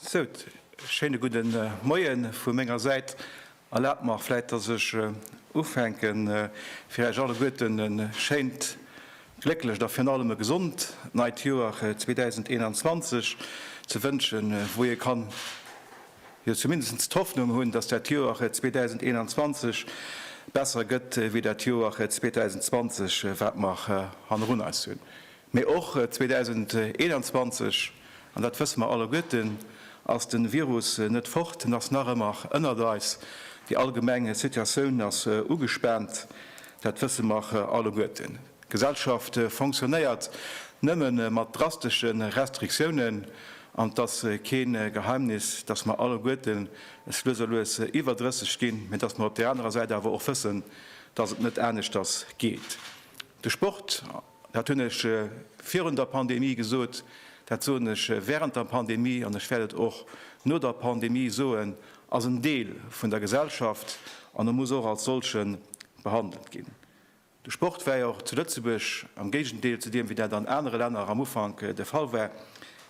Sou, schéine gudde Moie vu menger Säit. Erlaabt mer vläit, dass ech ufänken, fir Iech alleguerten e schéint, glécklecht a virun allem e gesond neit Joer 2021 ze wënschen, wou ee kann jo zumindest d'Hoffnung hunn, dass dat Joer 2021 besser gëtt wéi dat Joer 2020, wat mer hannerun eis hunn. Mee och 2021, an dat wësse mer alleguerten, ass de Virus net fort, en ass nach ëmmer ënnert eis. Déi allgemeng Situatioun ass ugespaant, dat wësse mer alleguerten. D'Gesellschaft fonctionnéiert nëmme mat drastesche Restriktiounen an et ass kee Geheimnis, dass mer alleguerten es lues a lues iwwer 30 ginn, mee dass mer op där anerer Säit awer och wëssen, dass et net aneschters geet. De Sport. Dat hunn ech virun der Pandemie gesot, dat soen ech während der Pandemie an ech wäert et och no der Pandemie soen, ass en Deel vun der Gesellschaft an e muss och als solche behandelt ginn. De Sport war jo och zu Lëtzebuerg, am Géigendeel zu deem wéi dat an anere Länner am Ufank de Fall war,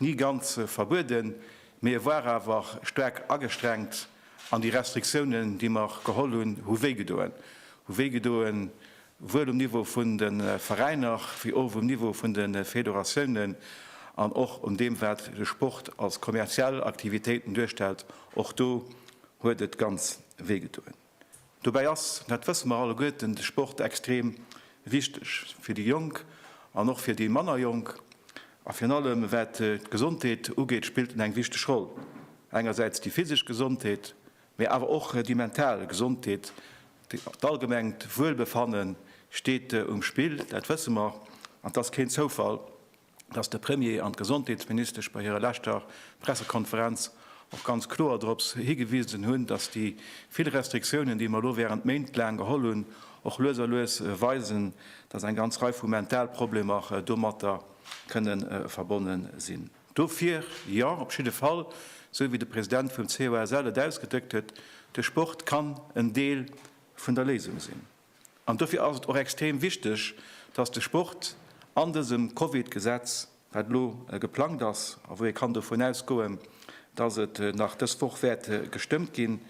ni ganz verbueden, mee e war awer staark agestrengt an déi Restriktiounen, déi mer geholl hunn, hu wéigedoen, hu wéigedoen wuel um Niveau vun de Veräiner wéi och um Niveau vun de Federatiounen an och un deem, wat de Sport als kommerziell Aktivitéiten duerstellt, och do huet et ganz wéi gedoen. Dobäi ass, dat wësse mer alleguerten, de Sport extrem wichteg fir déi Jonk an och fir déi manner Jonk. A virun allem, wat d'Gesondheet ugeet, spillt en eng wichteg Roll, engersäits déi physesch Gesondheet, Mee awer och déi mental Gesondheet, d'allgemengt Wuelbefanne steet um Spill, dat wësse mer. An et ass keen Zoufall, datt de Premier an d'Gesondheetsministesch bei hirer leschter Pressekonferenz och ganz kloer dorops higewisen hunn, datt déi vill Restriktiounen, déi mer elo während Méint laang geholl hunn, och lues a lues weisen, datt eng ganz Rei vu mental Problemer domatter kënne verbonne sinn. Dofir jo, op jidde Fall, esou wéi de President vum COSL et ausgedréckt huet, de Sport kann en Deel vun der Léisung sinn. An dofir ass et och extrem wichteg, dass de Sport an dësem Covid-Gesetz, wat elo geplangt ass a wou ee kann dovun ausgoen, dass et nach dës Woch wäert gestëmmt ginn,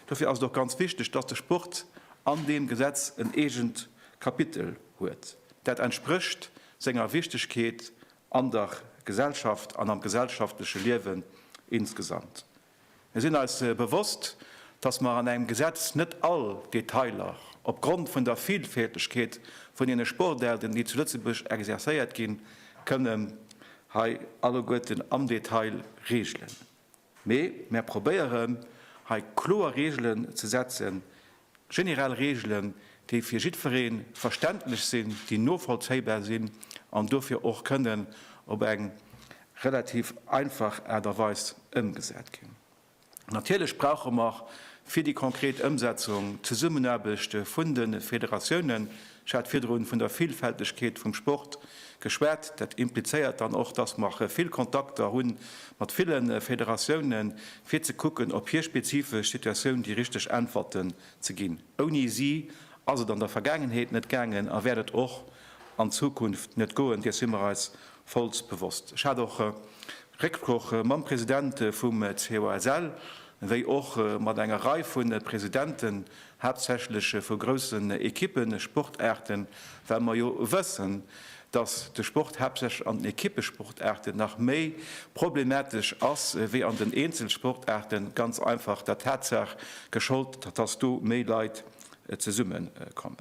dofir ass et och ganz wichteg, dass de Sport an deem Gesetz en eegent Kapitel huet, dat entsprécht senger Wichtigkeet an der Gesellschaft an am gesellschaftleche Liewen insgesamt. Mir sinn eis bewosst, dass mer an engem Gesetz net all Detailer opgrond vun der Vielfältegkeet vun deene Sportaarten, déi zu Lëtzebuerg exerzéiert ginn, kënnen hei alleguerten am Detail regelen. Mee mär probéieren hei kloer Reegelen ze setzen, generell Reegelen, déi fir jiddweree verständlech sinn, déi novollzéibar sinn an dofir och kënnen op eng relativ einfach Aart a Weis ëmgesat ginn. Natierlech brauche mer fir déi konkret Ëmsetzung d'Zesummenaarbecht vun de Federatiounen, Ech hat virdrun vun der Vielfältegkeet vum Sport geschwat. Dat implizéiert dann och, dass mer vill Kontakter hu mat ville Federatiounen, fir ze kucken, op hir spezifesch Situatioun déi richteg Äntwerten ze ginn. Ouni si ass et an der Vergaangenheet net gaangen a wäert et och an Zukunft net goen, dees si mer eis vollst bewosst. Ech hat och Récksproch mam President vum COSL, wéi och mat enger Rei vu Presidenten haaptsächlech vu groussen Ekippen, Sportaarten, well mer jo wëssen, dass de Sport haaptsächlech an den Ekippesportaarten nach méi problematesch ass wéi an den Eenzelsportaarten, ganz einfach der Tatsaach geschold, dass do méi Leit zesummekommen.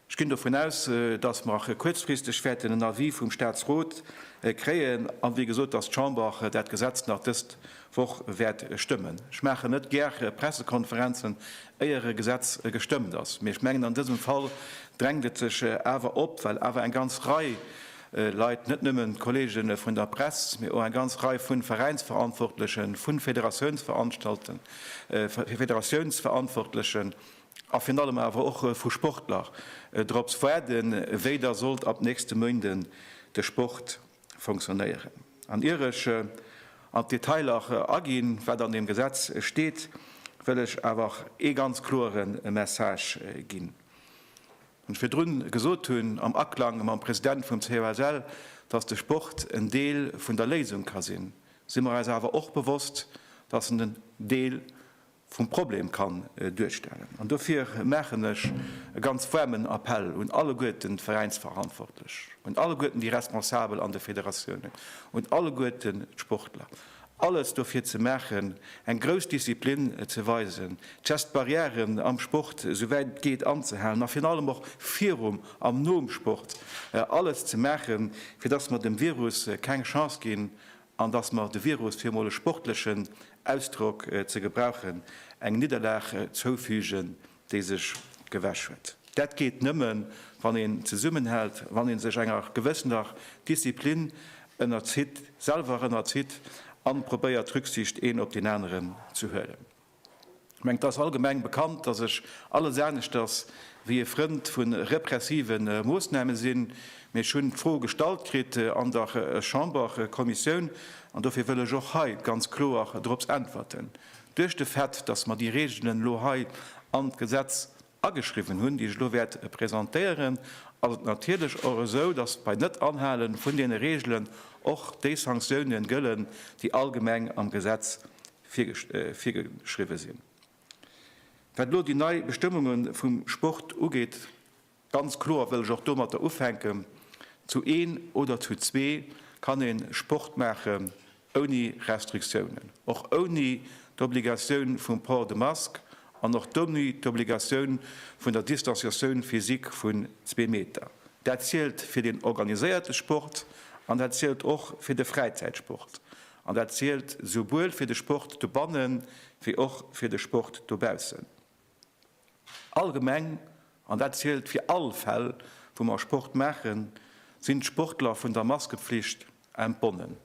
Ech ginn dovun aus, dass mer och kuerzfristeg wäerten en Avis vum Statsrot kréien an, wéi gesot, dass d'Chamber dat Gesetz nach dës Woch wäert stëmmen. Ech maachen net gär Pressekonferenzen, éier e Gesetz gestëmmt ass, mee ech mengen, an dësem Fall drängt et sech awer op, well awer eng ganz Rei Leit, net nëmmen d'Kolleege vun der Press, mee och eng ganz Rei vu Veräinsverantwortlechen, vu Federatiounsverantwortlechen, A virun allem awer och vu Sportler drops waarden, wéi da sollt ab nächste Méinde de Sport funktionéieren. An ier ech an d'Detailer aginn, wat an deem Gesetz steet, wëll ech awer ee ganz kloere Message ginn, wou ech virdrun gesot hunn, am Aklang mam President vum COSL, dass de Sport en Deel vun der Léisung ka sinn, si mer eis awer och bewosst, dass en en Deel vum Problem kann duerstellen. An dofir maachen ech e ganz waarmen Appell un alleguerten d'Veräinsverantwortlech, un alleguerten déi Responsabel an de Federatiounen, un alleguerten d'Sportler, alles dofir ze maachen, eng grouss Disziplin ze weisen, d'Gestbarrièren am Sport souwäit et geet anzehalen, ma virun allem och virum an nom Sport alles ze maachen, fir dass mer dem Virus keng Chance ginn an dass mer de Virus, fir emol e sportlechen Ausdrock ze gebrauchen, eng Nidderlag zoufügen, déi sech gewäsch huet. Dat geet nëmme wann een zesummenhält, wann ee sech enger gewëssener Disziplin ënnerzitt, selwer ënnerzitt, a probéiert Rücksicht een op deen aneren ze huelen. Ech mengen, et ass allgemeng bekannt, dass ech alles aneschters wéi e Frënd vu repressive Moosname sinn. Mee ech hunn d'Fro gestallt kritt an der Chamberkommissioun, an dofir wëll ech och hei ganz kloer dorops äntwerten, duerch de Fait, dass mer déi Regeln elo hei an d'Gesetz ageschriwwen hunn, déi ech elo wäert presentéieren, ass et natierlech och esou, datt bei Net-Anhale vun deene Reegelen och déi Sanktiounen gëllen, déi allgemeng am Gesetz virgeschriwwen sinn. Wat elo déi nei Bestëmmunge vum Sport ugeet, ganz kloer wëll ech och domatter ufänken, Zu een oder zu zwee kann ee Sport maachen, Ouni Restriktiounen, och ouni d'Obligatioun vum Port de Masque an och d'ouni d'Obligatioun vun der Distanciatioun physique vun zwee Meter. Dat zielt fir den organiséierte Sport an dat zielt och fir de Fräizäitsport. An dat zielt souwuel fir de Sport dobannen, wéi och fir de Sport dobaussen. Allgemeng, an dat zielt fir all Fäll, wou mer Sport maachen, sinn d'Sportler vun der Maskepflicht entbonnen.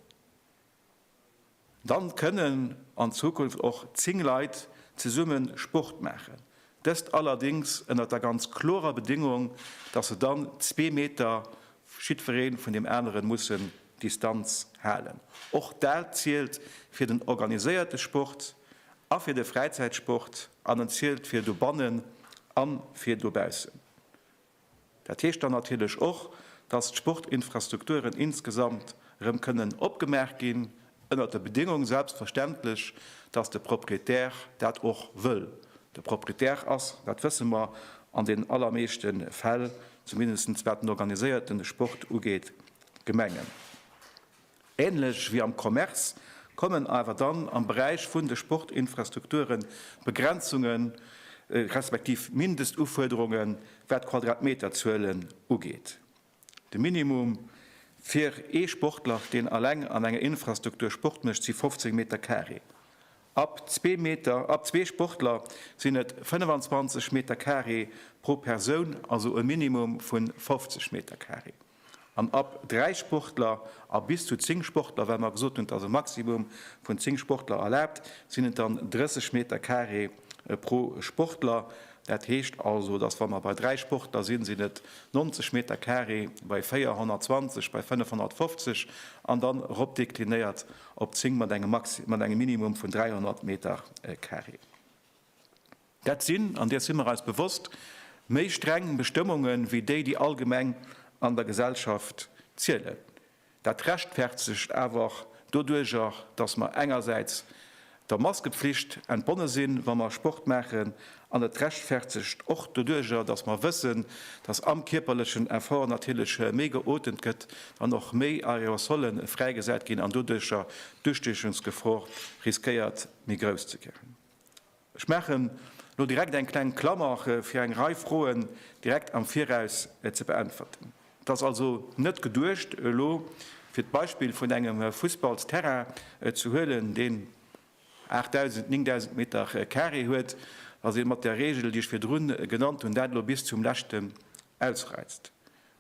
Dann kënnen an Zukunft och zéng Leit zesumme Sport maachen, dëst allerdéngs ënnert der ganz klorer Bedéngung, dass se dann zwee Meter jiddweree vun deem aneren mussen Distanz halen. Och dat zielt fir den organiséierte Sport a fir de Fräizäitsport an en zielt fir dobannen a fir dobaussen. Dat heescht dann natierlech och, dass d'Sportinfrastrukturen insgesamt erëm kënnen opgemaach ginn, ënnert der Bedéngung selbstverständlech, dass de Proprietär dat och wëll. De Proprietär ass, dat wësse mer, an den allermeeschte Fäll, zumindest wat den organiséierte Sport ugeet, d'Gemengen. Ähnlech wéi am Commerce kommen awer dann am Beräich vun de Sportinfrastrukture Begrenzunge respektiv Mindest-Ufuerderunge wat d'Quadratmeterzuelen ugeet. De Minimum fir ee Sportler, deen alleng an enger Infrastruktur Sport mécht, si 15 Meter carré. Ab zwee Meter, ab zwee Sportler sinn et 25 Meter carré pro Persoun, also e Minimum vu 50 Meter carré. An ab dräi Sportler a bis zu zéng Sportler, well mer gesot hunn, et ass e Maximum vun zéng Sportler erlaabt, sinn et dann 30 Meter carré pro Sportler. Dat heescht also, datt, wa mer bei dräi Sportler sinn, sinn et 90 Meter carré bei véier, 120 bei fënnef, 150 an dann eropdeklinéiert op zéng mat engem Maxi-, mat engem Minimum vun 300 Meter carré. Dat sinn, an deer si mer eis bewosst, méi streng Bestëmmunge wéi déi, déi allgemeng an der Gesellschaft zielen. Dat rechtfertegt awer doduerjer, datt mer engersäits der Maskepflicht entbonne sinn, wa mer Sport maachen, an et rechtfertegt och doduerjer, datt mer wëssen, datt am kierperlechen Effort natierlech méi geotent gëtt an och méi Aerosolle fräigesat ginn an doduerjer d'Ustiechungsgefor riskéiert méi grouss ze ginn. Ech maachen elo direkt eng kleng Klammer, fir eng Rei Froen direkt am Viraus ze beäntwerten. Et ass also net geduecht, elo fir d'Beispill vun engem Fussballsterrain ze huelen, deen 8.000, 9.000 Meter carré huet, datt ee mat där Regel, déi ech virdrun genannt hunn, dat elo bis zum Leschten ausreizt.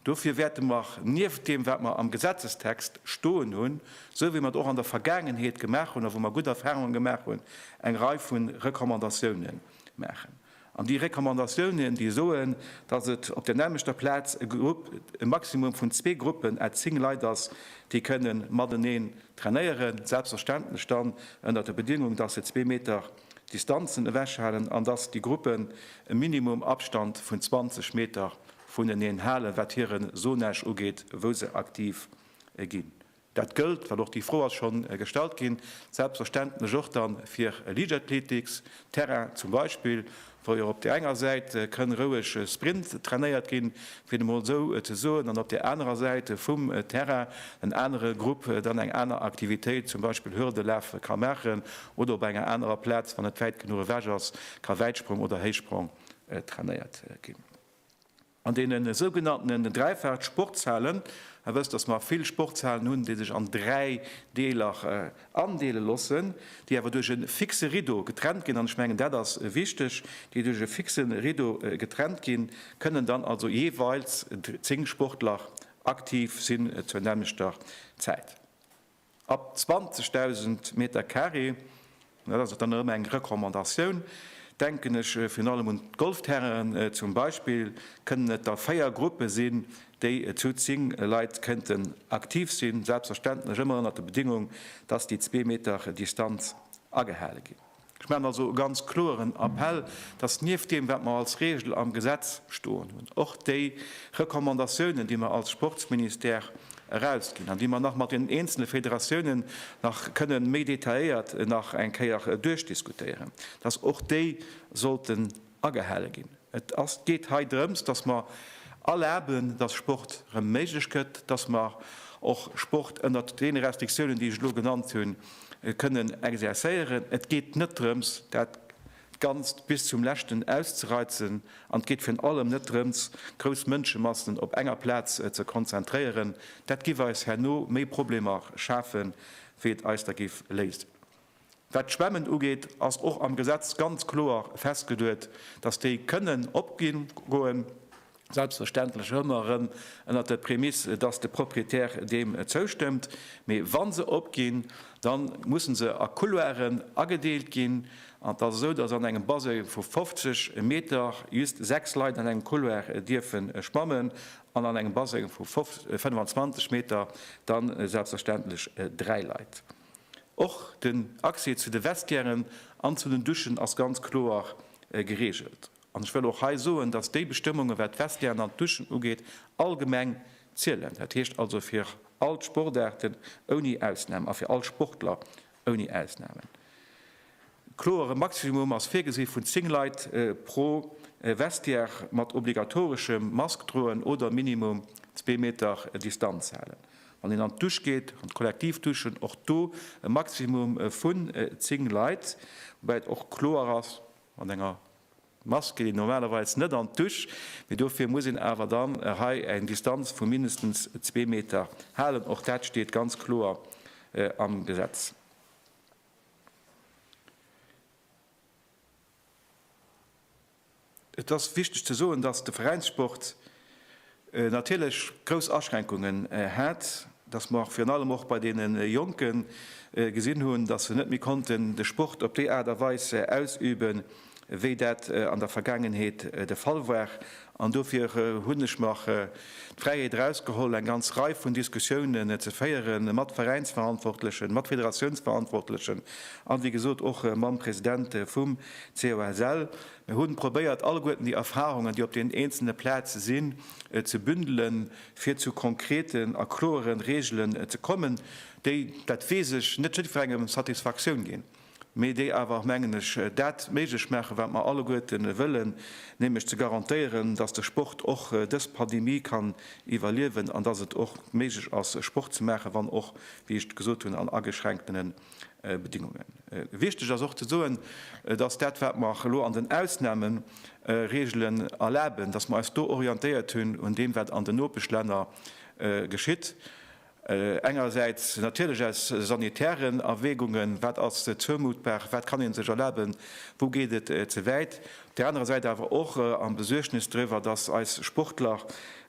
Dofir wäerte mer, nieft deem wat mer am Gesetzestext stoen hunn, esou wéi mer et och an der Vergaangenheet gemaach hunn a wou mer gutt Erfahrungen gemaach hunn, eng Rei vu Recommandatiounen maachen. An déi Recommandatiounen, déi soen, dass et op der nämmlechter Plaz e Grupp, e Maximum vun zwee Gruppen à zéng Leit ass, déi kënne mateneen trainéieren, selbstverständlech dann ënnert der Bedingung, dass se zwee Meter Distanzen ewechhalen an dass déi Gruppen e Minimum Abstand vun 20 Meter vuneneen halen, wat hire Zonage ugeet, wou se aktiv ginn. Dat gëllt, well och déi Fro ass scho gestallt ginn, selbstverständlech och da fir Liichtathletics, Terrain zum Beispill, wou jo op där enger Säit kënn roueg Sprint trainéiert ginn, fir et emol esou ze soen, an op där anerer Säit vum Terrain en anere Grupp dann eng aner Aktivitéit, zum Beispill Hürdelaf, ka maachen oder op enger anerer Plaz, wann et wäit genuch ewech ass, ka Wäitsprong oder Héichsprong trainéiert ginn. An deene sougenanntenen Dräifach-Sportshalen, Dir wësst, datt mer vill Sportshalen hunn, déi sech an dräi Deeler andeele loossen, déi awer duerch e fixe Rideau getrennt ginn, an ech mengen, dat ass wichteg, déi duerch e fixe Rideau getrennt ginn, kënnen dann also jeeweils zéng Sportler aktiv sinn zur nämmlechter Zäit. Ab 20.000 Meter Carré, dat ass och dann erëm eng Recommandatioun, denken ech virun allem un d'Golfterrainen zum Beispill, kënnen et da véier Gruppe sinn, déi zu zéng Leit kënnten aktiv sinn, selbstverständlech ëmmer ënnert der Bedingung, dass déi zwee Meter Distanz agehale ginn. Ech maachen also e ganz kloeren Appell, dass nieft deem, wat mer als Regel am Gesetz stoen hunn, och déi Recommandatiounen, déi mer als Sportsministère erausginn an déi mer nach mat den eenzele Federatiounen nach kënne méi detailléiert nach eng Kéier duerchdiskutéieren, dass och déi sollten agehale ginn. Et geet hei drëms, dass mer erlaben, dass Sport erëm méiglech gëtt, dass mer och Sport ënnert deene Restriktiounen, déi ech elo genannt hunn, kënnen exerzéieren. Et geet net drëms, dat Ganzt bis zum Leschten auszereizen, an et geet virun allem net drëms, grouss Mënschemassen op enger Plaz ze konzentréieren. Dat giff eis herno méi Problemer schafen, wéi et eis der giff léisen. Wat d'Schwämmen ugeet, ass och am Gesetz ganz kloer festgeduet, dass déi kënnen opgoen, selbstverständlech ëmmer erëm ënnert der Prämiss, dass de Proprietär deem zoustëmmt. Mee wa se opginn, da musse se a Couloiren agedeelt ginn. An et ass esou, dass an engem Baseng vu 50 Meter just sechs Leit an engem Couloir dierfe schwammen an an engem Baseng vu 25 Meter dann selbstverständlech dräi Leit. Och den Accès zu de Vestiairen an zu den Duschen ass ganz kloer geregelt. An ech wëll och hei soen, dass déi Bestëmmungen, wat d'Vestiairen an d'Duschen ugeet, allgemeng zielen. Dat heescht also fir all d'Sportaarten ouni Ausnam a fir all Sportler ouni Ausnamen. Kloer, e Maximum ass virgesi vun 10 Leit pro Vestiaire mat obligatoreschem Mask droen oder minimum zwee Meter Distanz halen, wann een an d'Dusch geet, an d'Kollektivduschen, och do e Maximum vun 10 Leit, woubäi et och kloer ass, mat enger Mask geet een normalerweis net an d'Dusch, mee dofir muss een awer dann hei eng Distanz vu mindestens zwee Meter halen. Och dat steet ganz kloer am Gesetz. Et ass wichteg ze soen, dass de Veräinssport natierlech grouss Aschränkungen hat, dass mer virun allem och bei deene Jonke gesinn hunn, dass se net méi konnten de Sport op déi Aart a Weis ausüben, wéi dat an der Vergaangenheet de Fall war. An dofir hunn ech mer d'Fräiheet erausgeholl, eng ganz Rei vun Diskussiounen ze féieren, mat Veräinsverantwortlechen, mat Federatiounsverantwortlechen an, wéi gesot, och mam President vum COSL. Mir hu probéiert, alleguerten déi Erfahrungen, déi op den eenzelne Plaze sinn, ze bündelen, fir zu konkreten a kloere Regelen ze kommen, déi, dat weess ech, net jiddwerengem Satisfaktioun ginn. mee déi awer, mengen ech, dat méiglech maachen, wat mer alleguerten wëllen, nämlech ze garantéieren, dass de Sport och dës Pandemie kann iwwerliewen an dass et och méiglech ass, Sport ze maachen, wann och, wéi ech gesot hunn, an ageschränktene Bedingungen. Wichtig ass och ze soen, dass dat, wat mer elo an den Ausnahmeregelen erlaben, dass mer eis do orientéiert hunn un deem, wat an den Nopeschlänner geschitt. Engersäits natierlech aus sanitären Erwägungen, wat ass zoumutbar, wat kann ee sech erlaben, wou geet et ze wäit, op där anerer Säit awer och am Besuergnes driwwer, datt eis Sportler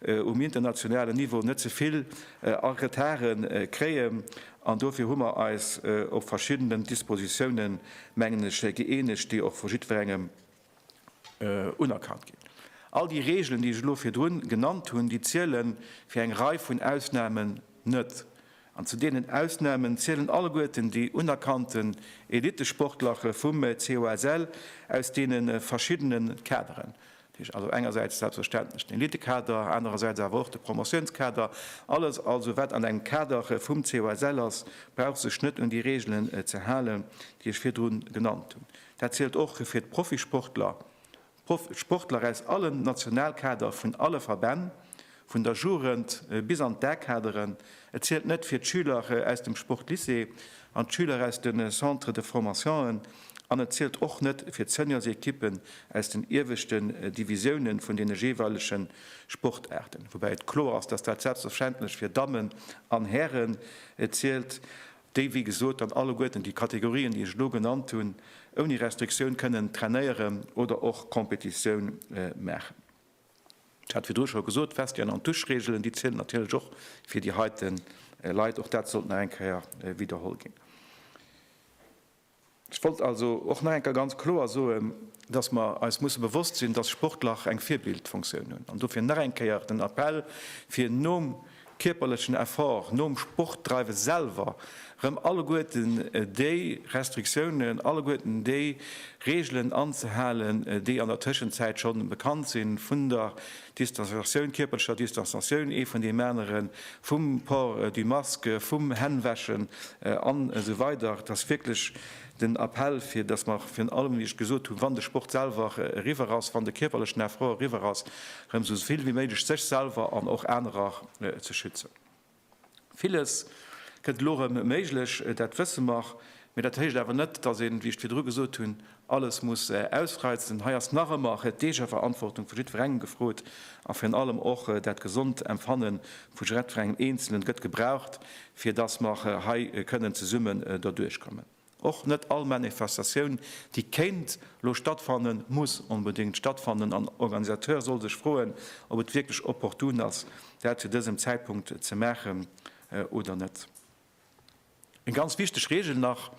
um internationalen Niveau net ze vill a Retarde kréien. An dofir hu mer eis op verschiddenen Dispositiounen, mengen ech, gëeenegt, déi och vu jiddwerengem unerkannt ginn. All déi Reegelen, déi ech elo virdrun genannt hunn, déi ziele fir eng Rei vun Ausnamen net. An zu deenen Ausnamen zielen alleguerten déi unerkannten Elittesportlerche vum COSL aus deene verschiddene Kaderen. Dat heescht also engersäits selbstverständlech den Elittekader, anerersäits awer och de Promotiounskader. Alles also, wat an engem Kader vum COSL ass, brauch sech net un déi Reegelen ze halen, déi ech virdrun genannt hunn. Dat zielt och fir d'Profisportler, d'Sportler aus allen Nationalkader vun alle Verbänn, vun der Jugend bis an d'A-Kaderen. Et zielt net fir d'Schüler aus dem Sportlycée an d'Schüler aus de Centres de formation'en an et zielt och net fir d'Seniorsequippen aus den ieweschten Divisiounen vun deene jeeweilege Sportaarten. Woubäi et kloer ass, dass dat selbstverständlech fir Dammen an Hären zielt. déi wéi gesot dann alleguerten déi Kategorien, déi ech elo genannt hunn, ouni Restriktioun kënnen trainéieren oder och Competitioun maachen. Ech hat virdru scho gesot, d'Vestiären an d'Duschregelen, déi zielen natierlech och fir déi heite Leit. Och dat sollt nach eng Kéier widderholl ginn. Ech wollt also och nach eng Kéier ganz kloer soen, dass mer eis musse bewosst sinn, dass Sportler eng Virbildfunktioun hunn. An dofir nach eng Kéier den Appell, fir nom kierperlechen Effort, nom Sportdreiwe selwer erëm alleguerten déi Restriktiounen, alleguerten déi Reegelen anzehalen, déi an der Tëschenzäit schonn bekannt sinn vun der Distanzatioun, kierperlecher Distanzatioun, ee vun deem aneren, vum Port du masque, vum Hännwäschen an esou weider. Et ass wierklech den Appell, fir datt mer virun allem, wéi ech gesot hunn, wann de Sport selwer eriwwer ass, wann de kierperlechen Effort eriwwer ass, erëm esou vill wéi méiglech sech selwer an och anerer ze schützen. Villes gëtt elo erëm méiglech, dat wësse mer. Mee dat heescht awer net, dass een, wéi ech et virdru gesot hunn, alles muss ausreizen. Hei ass nach ëmmer d'Eegeverantwortung vu jiddwerengem gefrot a virun allem och dat gesond Empfanne vu jiddwerengem Eenzelen gëtt gebraucht, fir dass mer hei kënnen zesumme derduerchkommen. Och net all Manifestatioun, déi kéint lo stattfannen, muss onbedéngt stattfannen an Organisateur soll sech froen, ob et wierklech opportun ass, dat zu dësem Zäitpunkt ze maachen oder net. Eng ganz wichteg Reegel nach,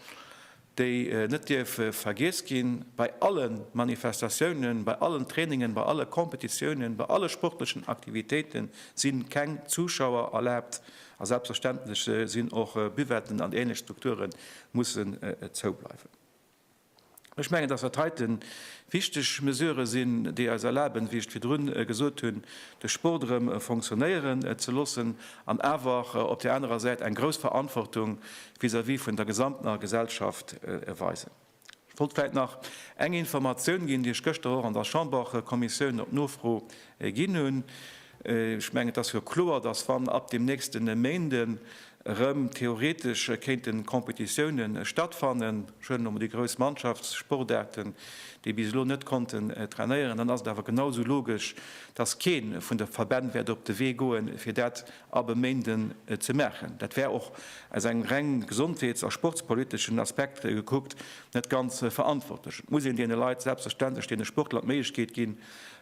déi net dierf vergiess ginn, Bei alle Manifestatiounen, bei allen Trainingen, bei alle Kompetitiounen, bei alle sportlechen Aktivitéite si keng Zuschauer erlaabt, A selbstverständlech sinn och Buvetten an ähnlech Strukture mussen zou bleiwen. Ech mengen, dass dat heiten wichteg Mesurë sinn, déi eis erlaben, wéi ech et virdrun gesot hunn, de Sport erëm fonctionnéieren ze loossen an awer op där anerer Säit eng grouss Verantwortung vis-à-vis vun der gesamter Gesellschaft weisen. Ech wollt vläit nach eng Informatioun ginn, déi ech gëschter och an der Chamberkommissioun op Nofro ginn hunn. Ech mengen, et ass jo kloer, dass, wann ab dem nächste Méinde erëm theoretesch kéinte Competitioune stattfannen, ech huelen elo mol déi grouss Mannschaftssportaarten, déi bis elo net konnten trainéieren, dann ass et awer genau esou logesch, dass kee vun de Verbänn wäert op de Wee goen, fir dat ab e Méinden ze maachen. Dat wär och aus engem reng gesondheets a sportspoliteschen Aspekt gekuckt net ganz verantwortlech. Et muss een deene Leit, selbstverständlech deene Sportler, d'Méiglechkeet ginn,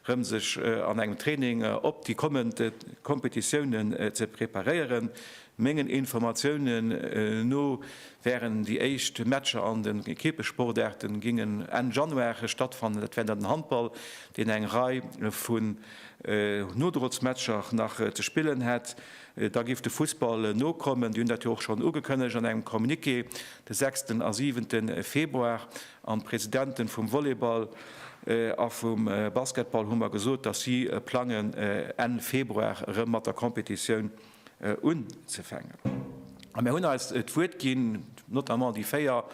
erëm sech an engem Training op déi kommend Kompetitiounen ze preparéieren. Mengen Informatiounen no wären déi éischt Matcher an den Ekippessportaarten, gingen Enn Januar stattfannen. Dat wär dann den Handball, deen eng Rei vu. Nodrozmatcher nach ze spillen hätt, da géif de Fussball nokommen. Déi hunn dat jo och schonn ugekënnegt an engem Communiqué de sechsten a siwente Februar. An d'Presidente vum Volleyball a vum Basketball hu mer gesot, datt si plangen, Enn Februar erëm mat der Competitioun unzefänken. A mir hunn eis d'Wuert ginn, notamment déi véier,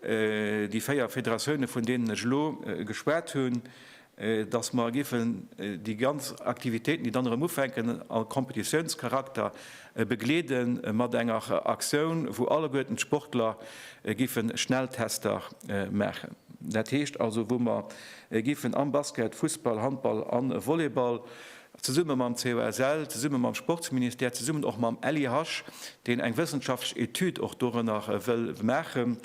déi véier Federatioune, vun deenen ech elo geschwat hunn, datt mer giffen déi ganz Aktivitéiten, déi dann erëm ufänken, a Kompetitiounscharakter begleede mat enger Aktioun, wou alleguerten d'Sportler giffen Schnelltester maachen. Dat heescht also, wou mer giffen am Basket, Fussball, Handball a Volleyball zesumme mam COSL, zesumme mam Sportsministère, zesummen och mam LIH, deen eng wëssenschaftlech Etüd och dorënner wëll maachen,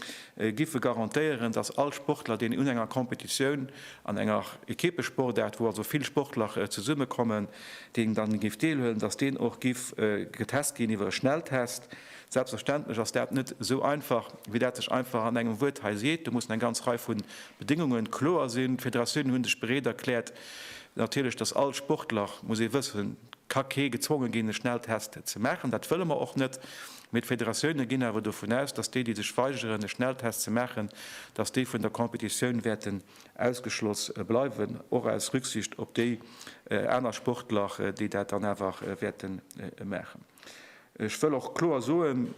giff e garantéieren, dass all Sportler, deen un enger Competitioun, an enger Equippesportaart, wou also vill Sportler zesummekommen, deen dann giff deelhuelen, dass deen och giff getest ginn iwwer e Schnelltest. Selbstverständlech ass dat net esou einfach, wéi dat sech einfach an engem Wuert hei seet. Do mussen eng ganz Rei vu Bedéngunge kloer sinn. D'Federatiounen hu sech bereet erkläert, Natierlech, dass all Sportler, muss ee wëssen, ka kee gezwonge ginn, e Schnelltest ze maachen. Dat wëlle mer och net. Mee d'Federatioune ginn awer dovun aus, dass déi, déi sech weigeren, e Schnelltest ze maachen, dass déi vun der Competitioun wäerten ausgeschloss bleiwen, och aus Rücksicht op déi aner Sportler, déi dat dann awer wäerte maachen. Ech wëll och kloer soen,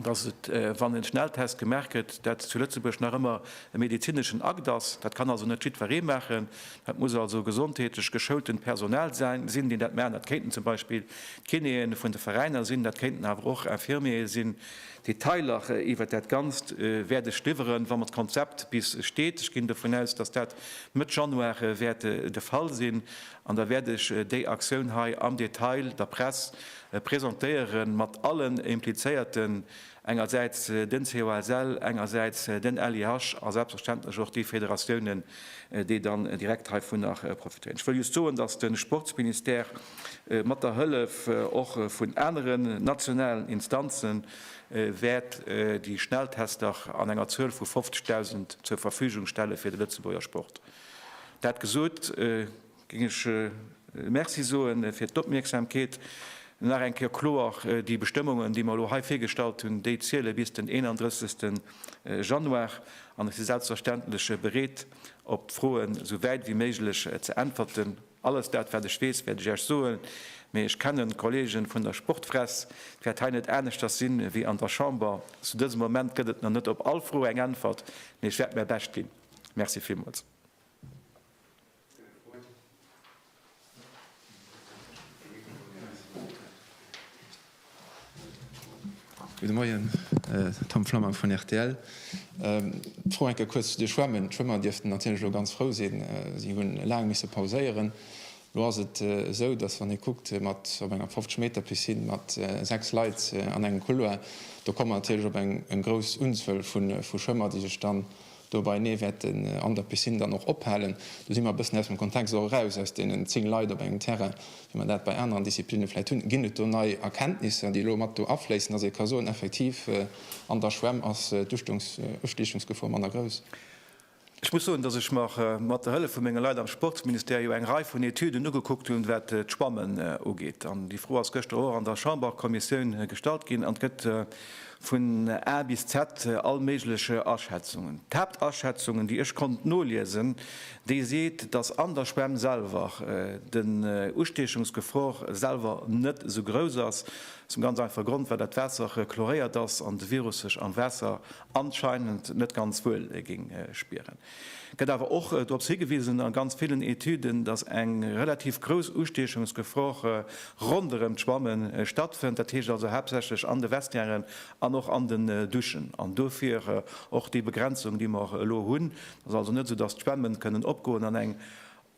dass et, wann e Schnelltest gemaach gëtt, dat zu Lëtzebuerg nach ëmmer e medezineschen Akt ass. Dat kann also net jiddweree maachen. Dat muss also gesondheetlech geschoultent Personal sinn, deen dat maachen. Dat kéinten zum Beispill d'Kinéeën vun de Veräiner sinn, dat kéinten awer och Infirmiere sinn. Detailer iwwert dat Ganzt wäert ech liwweren, wa mer d'Konzept bis steet, ech ginn dovun aus, dass dat Mëtt Januar wäert de Fall sinn, an da wäert ech déi Aktioun hei am Detail der Press presentéieren, mat allen Implizéierten, engersäits den COSL, engersäits den LIH a selbstverständlech och déi Federatiounen, déi dann direkt heivunner profitéieren. Ech wëll just soen, dass de Sportsministère mat der Hëllef och vun aneren nationalen Instanze wäert déi Schnelltester an enger Zuel vu 50.000 zur Verfügung stelle fir de Lëtzebuerger Sport. Dat gesot, Géing ech Merci soen fir d'Opmierksamkeet. Nach eng Kéier kloer, déi Bestëmmungen, déi mer elo hei virgestallt hunn, déi ziele bis den 31. Januar. An ech si selbstverständlech bereet, op d'Froen esou wäit wéi méiglech ze äntwerten. Alles dat, wat ech weess, wäert ech Iech soen. Mee ech kennen d'Kollege vun der Sportfress. Et wäert hei net aneschters sinn, wéi an der Chamber. Zu dësem Moment gëtt et nach net op all Fro eng Äntwert, mee ech wäert mäi Bescht ginn. Merci villmools. Gudde Moien, Tom Flammang vun rtl. D'Fro eng Kéier kuerz zu de Schwämmen. D'Schwëmmer dierften natierlech elo ganz frou sinn. Si hunn laang misse pauséieren. Elo ass et esou, datt wann ee kuckt mat op enger 50 Meter Piscine mat 6 Leit an engem Couloir, do komme mer natierlech op eng grouss Unzuel vu Schwëmmer, déi sech dann Dobei nee, wäert en an der Piscine dann och ophalen. Do si mer e bëssen aus dem Kontext och eraus, aus deenen 10 Leit op engem Terrain, wéi mer dat bei aneren Disziplinne vläicht hunn. Ginn et do nei Erkenntnisser, déi elo mat do afléissen, dass ee ka soen, effektiv an der Schwämm ass d'Ustiechungsgefor manner grouss? Ech muss soen, dass ech mer mat der Hëllef vu menge Leit am Sportsministère jo eng Rei vun Etüden ugekuckt hunn, wat d'Schwammen ugeet. An déi Fro ass gëschter och an der Chamberkommissioun gestallt ginn an gëtt Vun A bis Z all méigleche Aschätzungen. D'Haaptaschätzungen, déi ech konnt noliesen, déi seet, dass an der Schwemm selwer den Ustiechungsgefor selwer net esou grouss ass, aus dem ganz einfache Grond, well dat Waasser chloréiert ass an de Virus sech am Waasser anscheinend net ganz wuel géing spieren. gëtt awer och dorops higewisen a ganz villen Etüden, datt eng relativ grouss Ustiechungsgefor ronderëm d'Schwamme stattfënnt, dat heescht also haaptsächlech an de Vestiairen an och an den Duschen. An dofir och déi Begrenzung, déi mer elo hunn. Et ass also net esou, datt d'Schwämme kënnen opgoen an eng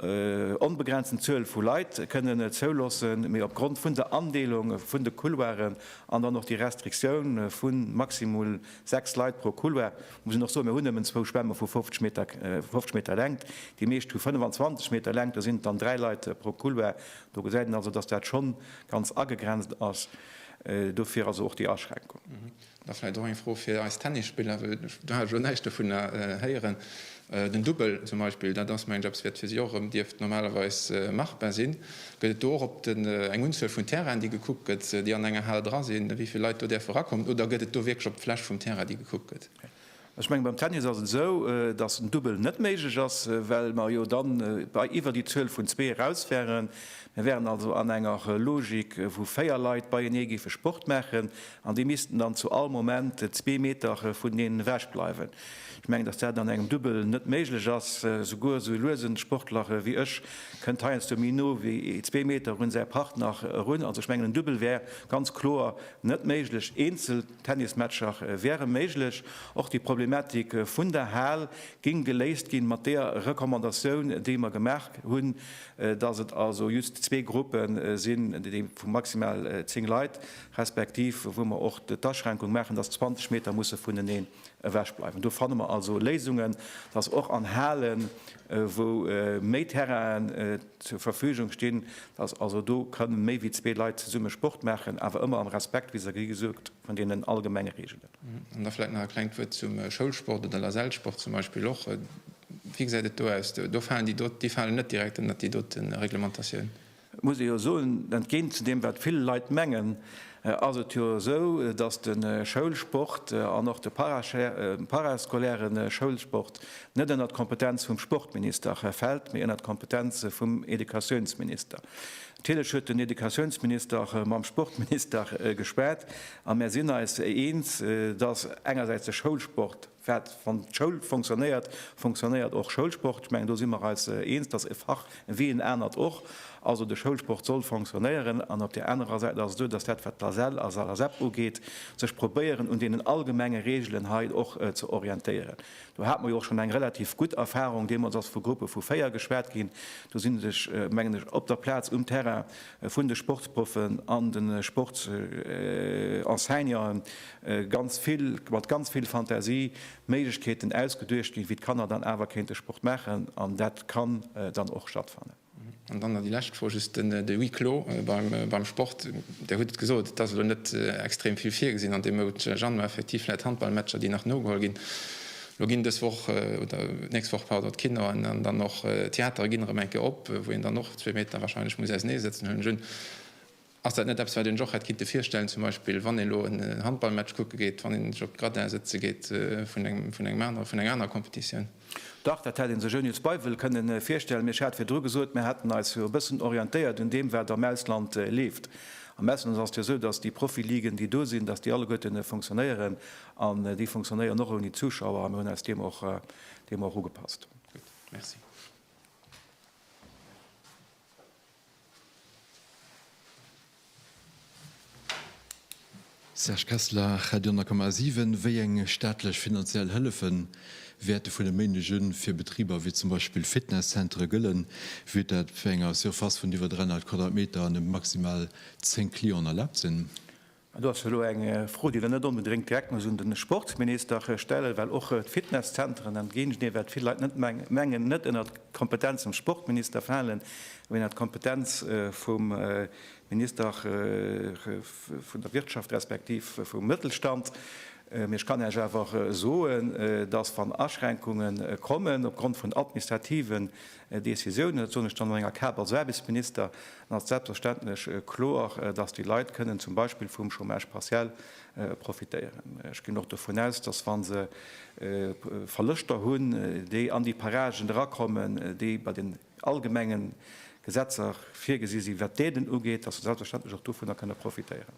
onbegrenzten Zuel vu Leit kënnen zouloossen, mee opgrond vun der Andeelung vun de Couloiren an dann och déi Restriktioun vu maximul 6 Leit pro Couloir, muss een och soen, mir hunn nëmmen zwou Schwämme vu 50 Meter, 50 Meter Längt, déi meescht hu 25 Meter Längt, do sinn et dann dräi Leit pro Couloir. Do gesäit een also, dass dat schonn ganz agegrenzt ass, dofir also och déi Aschränkung. Da vläit och eng Fro fir eis Tennisspiller, well do hat ech elo näischt dovunner héieren. Den Dubbel zum Beispill, dat ass, mengen ech, eppes wat fir si och erëm dierft normalerweis machbar sinn. Gëtt et do och op den eng Unzuel vun Terrainen, déi gekuckt gëtt, déi an enger Hal dra sinn, wéi vill Leit do däerfe rakommen, oder gëtt et do wierklech op d'Fläch vum Terrain, déi gekuckt gëtt? Ech mengen, beim Tennis ass et esou, datt en Dubbel net méiglech ass, well mer jo da bei iwwer déi Zuel vun zwee eraus wären. Mir wären also an enger Logik, wou véier Leit beienee géife Sport maachen an déi missten dann zu all Moment zwee Meter vuneneen ewech bleiwen. Ech mengen, datt dat an engem Dubbel net méiglech ass. Souguer esou luesen Sportler wéi ech kënnt heiansdo méi no wéi zwee Meter un säi Partner erun. Also ech mengen, en Dubbel wär ganz kloer net méiglech. Eenzel. Tennismatcher wäre méiglech. Och déi Problematik vun der Hal géing geléist ginn, mat deeër Recommandatioun, déi mer gemaach hunn, dass et also just zwee Gruppe sinn, déi vu maximal zéng Leit, respektiv wou mer och d'Aschränkung maachen, dass 20 Meter musse vuneneen ewech bleiwen. Do fanne mer also Léisungen, dass och an Halen, wou méi Terrainen, zur Verfügung stinn, dass also do kënnen méi wéi zwee Leit zesumme Sport maachen, awer ëmmer am Respekt, wéi se gesot, vun deenen allgemenge Reegelen. An da vläicht nach e klengt Wuert zum Schoulsport oder Lasellsport zum Beispill och. Wéi gesäit et do aus? Do falen déi dot, déi falen net direkt ënnert déi dote Reglementatioun? Et muss ee jo soen, entgéint zu deem, wat vill Leit mengen, ass et jo esou, dass de Schoulsport an och de parascolaire Schoulsport net ënnert d'Kompetenz vum Sportminister fält, mee ënnert d'Kompetenz vum Educatiounsminister. Natierlech huet den Educatiounsminister mam Sportminister geschwat a mär sinn eis eens, dass engersäits de Schoulsport, Wat, wann d'Schoul fonctionnéiert, fonctionnéiert och Schoulsport. Ech mengen, do si mer eis eens, dass e Fach wéi en anert och, also de Schoulsport soll fonctionnéieren. An op där anerer Säit ass et esou, dass dat, wat d'ASEL a Salasep ugeet, sech probéieren, un deenen allgemenge Regeln hei och ze orientéieren. Do hate mer jo och schonn eng relativ gutt Erfahrung. Deemools ass vu Gruppe vu véier geschwat ginn. Do sinn sech, mengen ech, op der Plaz, um Terrain, vun de Sportsproffen an de Sportsenseignanten ganz vill mat ganz vill Fantasie Méiglechkeeten ausgeduecht ginn, wéi d'Kanner dann awer kéinte Sport maachen, an dat kann dann och stattfannen. An dann nach déi lescht Fro, just den de Huis clos beim Sport. Der hutt et gesot, et ass elo net extrem vill virgesinn an deem Mount Januar, effektiv vläit Handballmatcher, déi nach nogeholl ginn. Elo ginn dës Woch, oder d'nächst Woch, pardon, d'Kinoen an dann och d'Theatere ginn erëm eng Kéier op, wou een dann och zwee Meter wahrscheinlech muss auseneesëtzen, huelen ech un. Ass dat net eppes, wat een sech och hätt kinte virstellen, zum Beispill wann ee lo en Handballmatch kucke geet, wann een sech op d'Gradin sëtze geet vun engem anere, vun enger anerer Competitioun? Dach, dat hätt ee sech ouni Zweiwel kënne virstellen. Mee ech hat virdru gesot, mir haten eis jo e bëssen orientéiert un deem, wat am Ausland leeft. Am Ausland ass et jo esou, datt déi Profi-Liguen, déi do sinn, datt déi alleguerten funktionéieren. An déi funktionéieren och ouni Zuschauer. A mir hunn eis deem och deem och ugepasst. Gutt. Merci. Serge Kessler, Radio 10,7, Wéi eng staatlech finanziell Hëllefe wäerte vun e Méindeg u fir Betriber wéi zum Beispill Fitnesszentere gëllen? Wier dat bei enger Surface vun iwwer 300 Quadratmeter an maximal 10 Clienten erlaabt sinn? Do ass elo eng Fro, déi der net onbedréngt direkt muss un de Sportsminister stellen, well och d'Fitnesszenteren, entgéint deem wat vill Leit net mengen, net ënnert d'Kompetenz vum Sportminister falen, mee ënnert d'Kompetenz vum Minister vun der Wirtschaft respektiv vum Mëttelstand. Mee ech kann Iech awer soen, dass wann Aschränkungen kommen opgrond vun administrativen Decisiounen, dat soen ech dann an enger Kap als Aarbechtsminister, dann ass selbstverständlech kloer, dass déi Leit kënnen zum Beispill vum Chômage partiel profitéieren. Ech ginn och dovun aus, dass wa se Verloschter hunn, déi an déi Paragen erakommen, déi bei den allgemenge Gesetzer virgesi sinn, wat d'Aiden ugeet, dass se selbstverständlech och dovunner kënne profitéieren.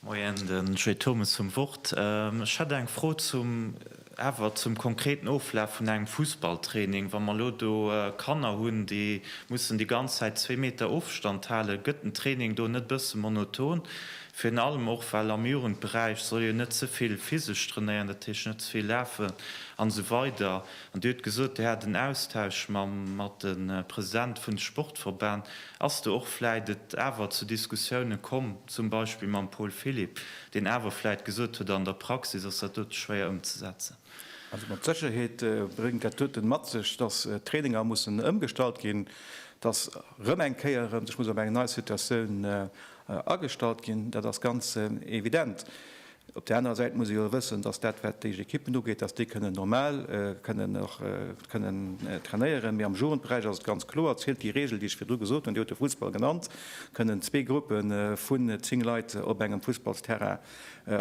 Moien, de Jay Thomas zum Wort. Ech hätt eng Fro zum, awer zum konkreten Oflaf vun engem Fussballtraining. Wa mer elo do Kanner hunn, déi mussen déi ganz Zäit zwee Meter Ofstand halen, gëtt den Training do net e bësse monoton? Virun allem och, well am Jugendberäich soll jo net ze vill physesch trainéieren, dat heescht net ze vill lafen an esou weider. An Dir hutt gesot, Dir hat en Austausch mat de Presidente vun de Sportverbänn. Ass do och vläit et awer zu Diskussiounen komm, zum Beispill mam Paul Philipp, deen awer vläit gesot huet, an der Praxis ass dat dote schwéier ëmzesetzen? Also mat Sécherheet bréngt dat doten mat sech, dass Traininger mussen ëmgestallt ginn, dass erëm eng Kéier sech muss op eng nei Situatioun agestallt ginn. Dat ass ganz evident. Op där anerer Säit muss ee jo wëssen, datt dat wat déi Ekippen ugeet, datt déi kënnen normal kënnen och kënnen trainéieren. Mee am Jugendberäich ass et ganz kloer, et zielt déi Reegel, déi ech virdru gesot hunn, Dir hutt de Fussball genannt, kënnen zwee Gruppe vun zéng Leit op engem Fussballsterrain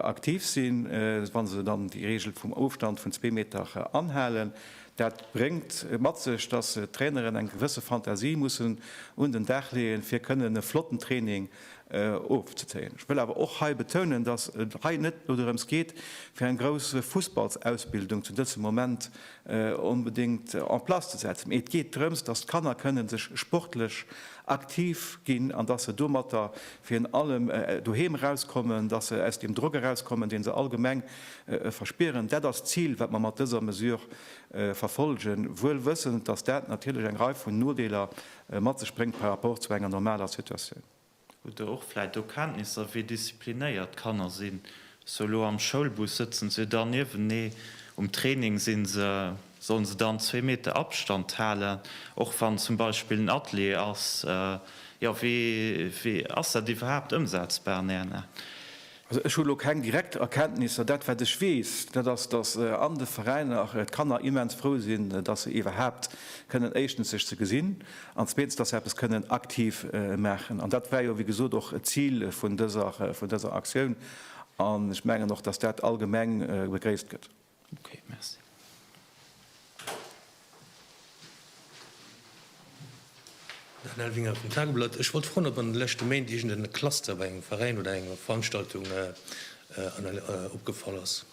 aktiv sinn, wa se dann déi Reegel vum Ofstand vun zwee Meter anhalen. Dat bréngt mat sech, datt d'Traineren eng gewësse Fantasie mussen un den Dag leeën, fir kënnen e flotten Training ofzezéien. Ech wëll awer och hei betounen, dass et hei net dodrëms geet, fir eng grouss Fussballsausbildung zu dësem Moment onbedéngt en place ze setzen, mee et geet drëms, dass d'Kanner kënnen sech sportlech aktiv ginn an dass se domatter virun allem doheem erauskommen, dass se aus deem Drock erauskommen, dee se allgemeng verspieren. Dat ass d'Zil, wat mer mat dëser Mesure verfolgen, wuel wëssend, dass dat natierlech eng Rei vun Nodeeler mat sech bréngt par rapport zu enger normaler Situatioun. Hutt Der och vläit do Kenntnisser, wéi disziplinéiert d'Kanner sinn? Sou elo am Schoulbus sëtzen se jo dann niewenee, um Training si se, sollen se dann zwee Meter Abstand halen, och wann zum Beispill en Atelier ass? Jo, wéi ass dat iwwerhaapt ëmsetzbar an Ären Aen? Also ech hu lo keng direkt Erkenntnisser. Dat wat ech weess, dat ass, datt an de Veräiner d'Kanner immens frou sinn, datt se iwwerhaapt kënnen éischtens sech ze gesinn an zweetens, datt se eppes kënnen aktiv maachen. An dat war jo wéi gesot och d'Zil vun dëser Aktioun an ech mengen och, datt dat allgemeng begréisst gëtt. Daniel Winer vum Tageblatt, Ech wollt froen, ob an de leschte Méint iergend en Cluster bei engem Veräin oder enger Veranstaltung opgefall ass?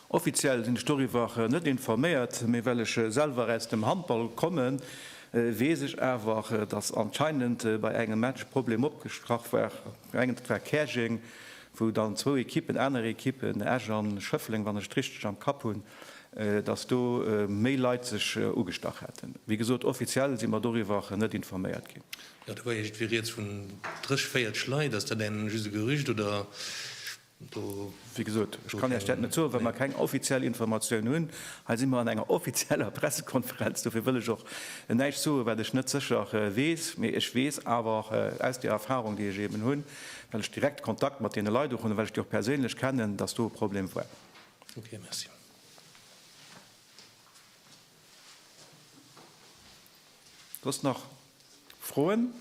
Offiziell sinn ech doriwwer net informéiert, mee well ech selwer aus dem Handball kommen, weess ech awer, datt anscheinend bei engem Match e Problem opgestrach war. Mengen et war Käerjeng, wou dann zwou Ekippen, aner Ekippen, Esch an Schëffleng, wann ech et richteg am Kapp hunn, dass do méi Leit sech ugestach hätten. Wéi gesot, offiziell si mer doriwwer net informéiert ginn. Jo, do war iergendwéi Rieds vun drëch, véierteg Leit. Ass dat eng just e Gerücht oder do? Wéi gesot, ech kann Iech dat net soen, well mer keng offiziell Informatioun hunn. Hei si mer an enger offizieller Pressekonferenz, dofir wëll ech och näischt soen, wat ech net sécher weess. Mee ech weess awer aus där Erfahrung, déi ech eeben hunn, well ech direkt Kontakt mat deene Leit och hunn a well ech déi och perséinlech kennen, dass do e Problem war. Okay, merci. Soss nach Froen?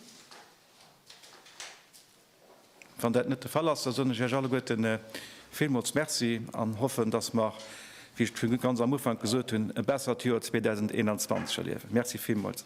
Wann dat net de Fall ass, da soen ech Iech alleguerte villmools Merci an hoffen, dass mer, wéi ech virun ganz am Ufank gesot hunn, e bessert Joer 2021 erliewen. Merci villmools.